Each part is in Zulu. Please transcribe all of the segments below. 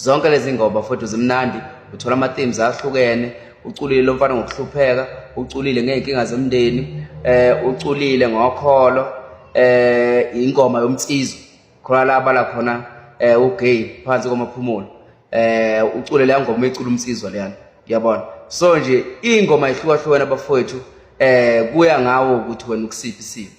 zonke lezi ngoba futhi zimnandi uthola ama-themes ahlukene uculile lo mfana ngokuhlupheka uculile ngey'nkinga zomndeni um uculile ngokholo um ingoma yomnsizwa khona la abala khona um ugay phansi kwamaphumulo um ucule leya ngoma ecula umnsizwa leyana uyabona so nje iy'ngoma ihlukahlukene abafowethu um kuya ngawo ukuthi wena ukusiphi isimo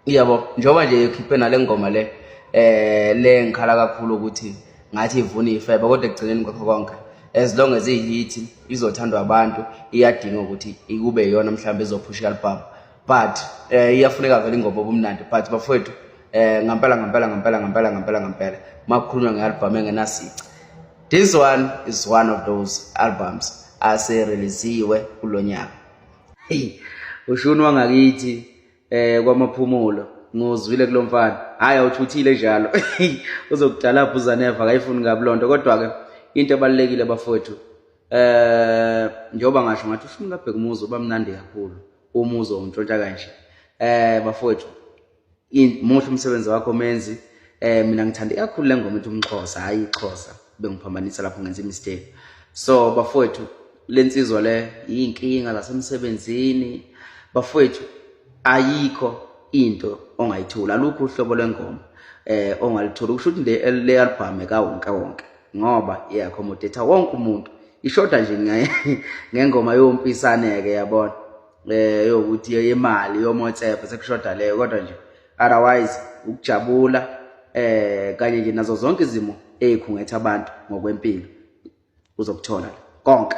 iyabo njengoba nje ekhiphe nale ngoma le eh le ngikhala kakhulu ukuthi ngathi ivuna ifebe kodwa ekugcineni kwakho konke as long as ihit izothandwa abantu iyadinga ukuthi ikube yona mhlawumbe ezophusha album but eh iyafuneka vele ingoma obumnandi but bafowethu eh ngampela ngampela ngampela ngampela ngampela ngampela makukhulunywa ngealbum engenasici this one is one of those albums asereleziwe kulonyaka hey ushuni wangakithi eh kwamaphumulo ngozwile kulomfana hayi awuthuthile njalo uzokudala bhuzaneva akayifuni kabi lonto kodwa ke into ebalekile bafowethu eh njengoba ngasho ngathi ushumi kabheka umuzi uba mnandi kakhulu umuzi ongintshontsha kanje eh bafowethu muhle umsebenzi wakho menzi eh mina ngithanda kakhulu lengoma ethi umxhosa hayi ixhosa bengiphambanisa lapho ngenza imistake so bafowethu le nsizwa le yiyinkinga zasemsebenzini bafowethu ayikho into ongayithola alukho uhlobo lwengoma eh ongalithola kusho ukuthi le le album ekawonke wonke ngoba iyakhomodetha wonke umuntu ishoda nje ngengoma yompisane ke yabona eh yokuthi yemali yomotsephe sekushoda leyo kodwa nje otherwise ukujabula eh kanye nje nazo zonke izimo ezikhungetha abantu ngokwempilo uzokuthola konke